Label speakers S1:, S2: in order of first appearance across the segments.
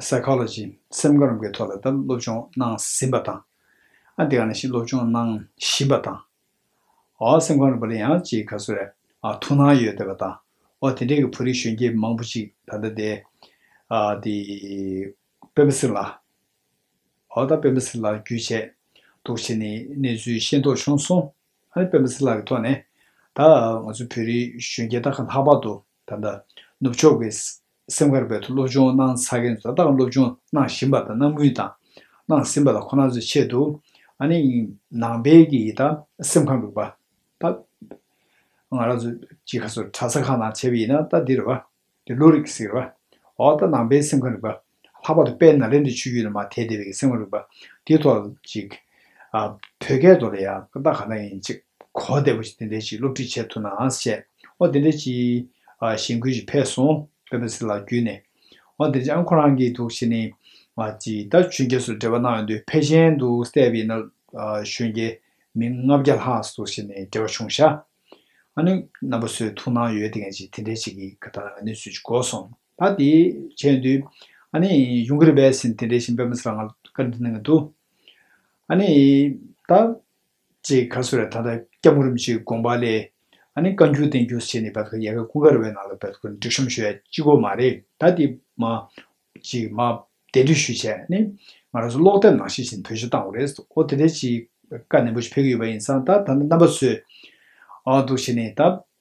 S1: Psychology། སེམས་ཁམས་རམ་འགའི་ཐོག་ལ་ལྟ་སློབ་སྦྱོང་གནང་ཟིན་པ་དང། ཨ་འདི་ག་ནང་བཞིན་སློབ་སྦྱོང་གནང་བཞིན་པ་དང། ཨོ་སེམས་ཁམས་རིག་པ་ལ་ཡང་ཅིག་ག་སུ་རེ་ཐུགས་སྣང་ཡོད་བསྡད་པ་དང། ཨོ་དེ་འདྲའི་གི་བོད་རིགས་གཞོན་སྐྱེས་མང་པོ་ཅིག་ད་ལྟ་དེ་ཨ་དེ་སྤེན་པ་སི་ལ། ཨོ་ད་སྤེན་པ་སི་ལ་རྒྱུད་བྱས་འདུག་བྱས་ནས་གནས་ཚུལ་ཤེས་མདོག་བྱུང་སོང། ཨ་ནི་སྤེན་པ་སི་ལ་གི་ཐོག་ནས་ད་ང་ཚོ་བོད་རིགས་གཞོན་སྐྱེས་ད་ག་ལྷག་པར་དུ་ད་ནུབ་ཕྱོགས་ཀྱི་སེམས་དཀར་པོའི་ཐོག་སློབ་སྦྱོང་གནང་ཚར་མཁན་ཚོ་ད་ལྟའང་སློབ་སྦྱོང་གནང་བཞིན་པ་དང་གནང་མུས་དང། གནང་ཟིན་པ་ལ་ཁོ་ན་ཚོའི་ཆེད་དུ། ཨ་ནི། ནང་པའི་ཀྱི་ཡི་དྭགས་སེམས་ཁམས་རིག་པ། ད། ང་རང་ཚོ། ཅི་ཁ་སོ་གྲྭ་ས་ཁག་ནང་བྱས་པ་ཡིན་ན་ད་འདིར་རེད་པ། འདི་བློ་རིག་ཟིག་རེད་པ། འོ་ད་ནང་པའི་སེམས་ཁམས་རིག་པ། ལྷག་པར་དུ་དཔལ་ནཱ་ལེནྡྲའི་ཆོས་བརྒྱུད་ནང་མ་དད་བདེ་བའི་ཀྱི་སེམས་ཁམས་རིག་པ། འདིའི་ཐོག་ལ་ཅིག། ཨ། བོད་སྐད་ཐོག་ལ་ཡང་ཀི་ད་ག་ནང་ཡིན་ཅིག་གོ་བདེ་པོ་ཅིག་འདི་འདྲའི་ཅིག་སློབ་ཁྲིད་བྱས་ཐུབ་ན་ཨང་ཞེས། ཨོ་དེ་འདྲ་ཅིག། གཞེན་སྐུལ་ཞིག་ཕེབས་སོང། ཀ་བེ་སི་ལགས་བརྒྱུད་ནས། ཨོ་དེ་འདྲ་ཨ་ཁོ་རང་གིས་འདུག་བྱས་ནས། ཅིག་ད་གཞོན་སྐྱེས་སུ་འབྲེལ་བ་གནང་ཡོང་དུས་ཕེ་ཤན་དུ་བསད་པའི་ན་གཞོན་སྐྱེས་མི་ལྔ་བརྒྱ་ལྷག་སུ་བྱས་ནས་འབྲེལ་བ་བྱུང་ཤག་ཨ་ནི་ན་བ་སུའི་ཐུགས་སྣང་ཡོད་དེ་ངས་ཅིག་དེ་འདྲ་ཅིག་གི་ག་ད་ང་ནི་སུས་ཅིག་གོ་སོང། ད་དེ་བྱས་དུས། ཨ་ནི་ཡུང་ཀེ་རི་བས་སིན་དེ་འདྲ་བཞིན་པེ་མ་སི་ལ་ང་ལ་བཀའ་དྲིན་གནང་གི་འདུག་ཨ་ནི་ད། ཅེས་ཁ་སོ་རས་ད་ལྟ་སྐྱབས་ངོ་རིམ་ཅིག་དགོངས་པ་ལས། ཨ་ནི་བཀའ་འགྱུར་བསྟན་འགྱུར་ཟེར་ནས་བལ་ཁ་ཡལ་ག་ཀུན་དགར་བའི་ནང་ལ་བལ་ཁུ་འབྲི་ཤོམ་ཞུ་ཡ་ཅི་གོ་མ་རེད་ད་དེ་མ་ཅིག་མ་དེ་འབྲི་ཞུ་བྱས་ནི་ང་རང་ཚོ་ཀློག་དེབ་ནང་ཤེས་བཞིན་བོད་གཞུང་བཏང་བ་རེད་ཨོ་དེ་འདྲའི་ཅིག་བཀའ་ནན་པོ་ཞིག་ཕེབས་ཀྱི་ཡོད་པ་ཡིན་ཙང་ད་ད་ནི་རྣམ་པ་ཚོས་འདུག་བྱས་ནི་ད་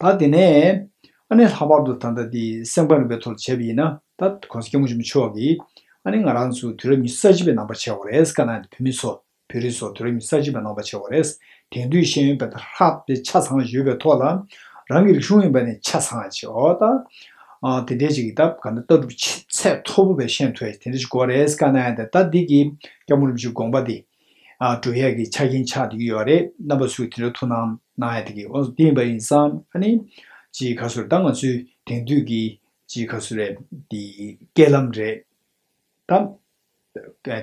S1: ད་དེ་ནས་ཨ་ནེ་ལྷག་པར་དུ་ད་ལྟ་འདི་སེམས་ཁམས་རིམ་པའི་ཐོག་ལ་བྱས་པ་ཡིན་ན་ད་གོང་ས་སྐྱ་མོ་ཆེན་མོ་མཆོག་གིས་ཨ་ནེ་ང་རང་ཚོ་དུས་རབས་ཉི་ཤུ་རྩ་གཅིག་པའི་ནང་པ་ཆེ་བ་རེད་སྐ་ན་འདི་བོད་མི་ཚོ་བོད་རིགས་ཚོ་དུས་རབས་ཉི་ཤུ་རྩ་གཅིག་པའི་ནང་པ་ཆེ་བ་རེད་དེང་དུས་ཤེས་ཡོན་པད་དར་ལྷག་པའི་ཆ་ཚང་ཡོད་པའི་ཐོག་ལ་རང་གི་རིག་གཞུང་ཡིན་པ་ནི་ཆ་ཚང་ཆེ་བ་ད་དེ་འདྲའི་ཅིག་ད་ག་ནས་ལྟ་གྲུབ་ཆེ་ཚད་མཐོ་པོ་བས་ཤེས་ཐུབ་བས་དེ་འདྲ་ཞིག་གོ་རེད་སྐ་ན་ད་ད་འདི་གི་སྐྱ་མོ་རིམ་བཞིན་དགོངས་པ་འདི་འབྲུ་གཡག་གི་ཆ་རྐྱེན་ཆགས་འདུག་ཡོད་པ་རེད་རྣམ་པ་ཚོས་དེ་འདྲ་ཐུགས་སྣང་གནང་ཡ་དེ་གི་དབང་དུ་བསྟན་པ་ཡིན་བསམ་ཨ་ནི། ཅིའི་ཁ་སུ་རེད་ད་ང་ཚོའི་དེང་དུས་ཀྱི་ཅིའི་ཁ་སུ་རེད་དེ་སྐད་ལམ་རེད་དམ།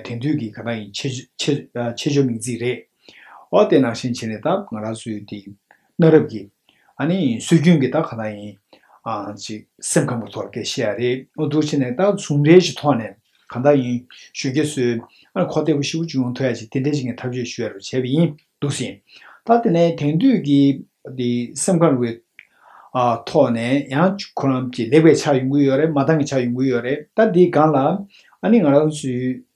S1: དེང་དུས་ཀྱི་ག་ད་ཡིན་ཆེ་ཆེ་ཆེ་ཆོ་མིང་ཚིག་རེད། ཨོ་དེ་ནང་བཞིན་བྱས་ནས་ད་ང་རང་ཚོའི་དེ་གནའ་རབས་ཀྱི། ཨ་ནི། སྲོལ་རྒྱུན་གྱི་རྟགས་ག་ལ་ཡིན། ཨང། ཅིག། སེམས་ཁམས་ཀྱི་ཐོག་ལ་སྐད་ཤེས་ཡ་རེད། ཨོ་དུར་བྱས་ནས་རྟགས་ཟུང་འབྲེལ་གྱི་ཐོག་ནས་གང་དག་ཡིན། ཞུ་གི་སྲོལ། ཨ་ནི་ཁོ་ལྟ་བུ་ཤི་བོ་བཅུ་ཡོང་ཐུ་ཡ་ཅིག་དེ་འདྲ་ཞིག་གི་ཐབས་བྱུས་ཞུ་ཡ་རུ་བྱས་པ་ཡིན། འདུག་སྲིད། ད་དེ་ནས་དེང་དུས་ཀྱི། འདི། སེམས་ཁམས་རུའི། ཨ། ཐོག་ནས་ཡང། ཁོ་རང། ལེགས་པའི་ཆ་ཡོང་གི་ཡོད་རེད་མ་འདང་གི་ཆ་ཡོང་གི་ཡོད་རེད་ད་འདི་སྒང་ལ། ཨ་ནི་ང་རང་ཚོའི།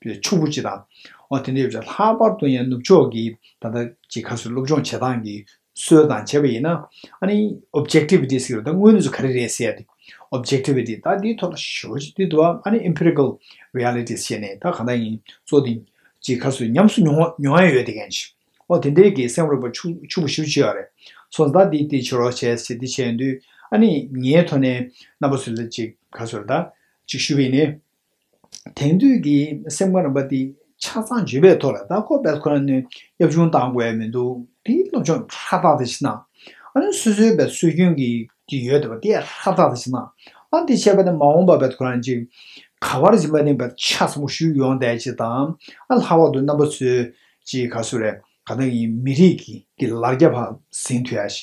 S1: པའི་ཕྱུག་པོ་གཅིག་དང། འོ་དེ་འདྲ་ཡོད་ཀྱང་ལྷག་པར་དུ་ཡང་ནུབ་ཕྱོགས་ཀྱི་ད་ལྟ་ཇི་ཁ་སོ་སློབ་སྦྱོང་བྱེད་སྟངས་ཀྱི་སྲོལ་དང་བྱས་པ་ཡིན་ན། ཨ་ནི Objectivity ཟེར་བ་ད་དངོས་གནས་སུ་ག་རེ་རེད་ཟེར་ཏེ། Objectivity ད་དེའི་ཐོག་ལ་ཞོལ་ཅིག་དེ་དུ་བ་ཨ་ནི Empirical Realities བྱས་ནས་ད་གང་དག་ཡིན་གཙོ་དེ་ཇི་ཁ་སོ་ཉམས་སུ་མྱོང་མྱོང་ཡ་ཡོད་དེ་གན་ཞིག། འོ་དེ་འདྲའི་གི་སེམས་རོགས་པ་ཕྱུག་ཕྱུག་པོ་ཞིག་བྱོས་ཡ་རེད། སོང་ད་དེ་དེ་བྱོས་རོགས་བྱས་ཟེར་དེ་བྱས་ཡོང་དུས་ཨ་ནི་ངའི་ཐོག་ནས་རྣམ་པ་སུ་ལ་ཇི་ཁ་སོ་ར་ད་ཅིག་ཞུས་པ་ཡིན་ནས། དེང་དུས་ཀྱི་སེམས་ཁམས་རིམ་པ་འདི་ཆ་ཚང་བརྗེ་བའི་ཐོག་ལ་ད་ཁོ་པས་ཁོ་རང་ནས་གཡབ་ཆུང་བཏང་དགོས་ཡ་མི་འདུག་དེ་སློབ་སྦྱོང་ཧྲ་ཐག་ཐག་བྱེད་ན། ཨ་ནི་སོ་སོའི་བའི་སྲོལ་རྒྱུན་གྱི་དེ་ཡོད་དེ་བ་དེ་ཧྲ་ཐག་ཐག་བྱེད་ན། ཨ་དེ་བྱས་པ་ནི་མ་འོངས་པ་བས་ཁོ་རང་གཅིག་ག་བར་སྦྱིན་པ་ནི་བ་ཆ་ཚང་པོ་ཞུས་ཡོང་བསྡད་ཅེས་དང་ཨ་ལྷག་པར་དུ་རྣམ་པ་ཚོས་ཅི་ག་སུ་རེད་ག་ད་ངའི་མི་རིགས་ཀྱི་ལར་རྒྱ་བ་ཟིན་དུས་ཨ་ཞེས་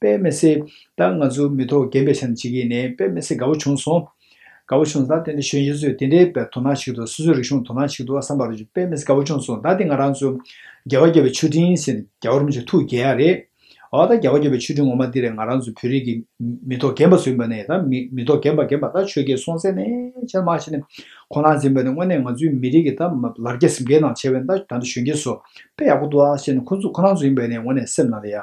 S1: དཔལ་མི་སྲིད། ད་ང་ཚོ་མི་ཐོག་རྒན་པའི་ཆ་ནས་བྱེད་ཀྱི་ཡིན་ནའི་དཔལ་མི་སྲིད་དགའ་བོ་བྱུང་སོང། དགའ་བོ་བྱུང་ད་དེ་འདྲ་གཞོན་སྐྱེས་ཚོས་དེ་འདྲའི་བའི་དོ་སྣང་བྱེད་ཀྱི་འདུག་སོ་སོའི་རིག་གཞུང་དོ་སྣང་བྱེད་ཀྱི་འདུག་བསམ་པར་དཔལ་མི་སྲིད་དགའ་བོ་བྱུང་སོང་ད་དེ་ང་རང་ཚོ། རྒྱལ་བ་རྒྱལ་བའི་མཆོད་སྤྲིན་ཟེར་ནས་རྒྱལ་བ་རིན་པོ་ཆེ་ཐུགས་དགྱེས་ཡ་རེད། འོ་ད་རྒྱལ་བ་རྒྱལ་བའི་མཆོད་སྤྲིན་ངོ་མ་འདི་རེད་ང་རང་ཚོ་བོད་རིགས་ཀྱི་མི་ཐོག་རྒན་པ་ཚོ་ཡིན་པ་ནས་ད་མི་ཐོག་རྒན་པ་རྒན་པ་ད་ཆོས་རྒྱལ་སྲོང་བཙན་ནས་ཆེར་མ་ཆེ་ནས་ཁོ་ན་འཛིན་པ་ནས་དངོས་གནས་ང་ཚོའི་མི་རིགས་ཀྱི་ད་ལར་རྒྱ་གསེབ་འགའི་ནང་ཆེ་བས་ད་ད་འདྲ་གཞོན་སྐྱེས་ཚོ་དཔེ་ཡག་པོ་འདུག་ཨ་ཞེས་ནས་ཁོ་ཚོ་ཁོ་རང་ཚོ་ཡིན་པས་ནས་དངོས་གནས་སེམས་ནང་ལ་ཡ།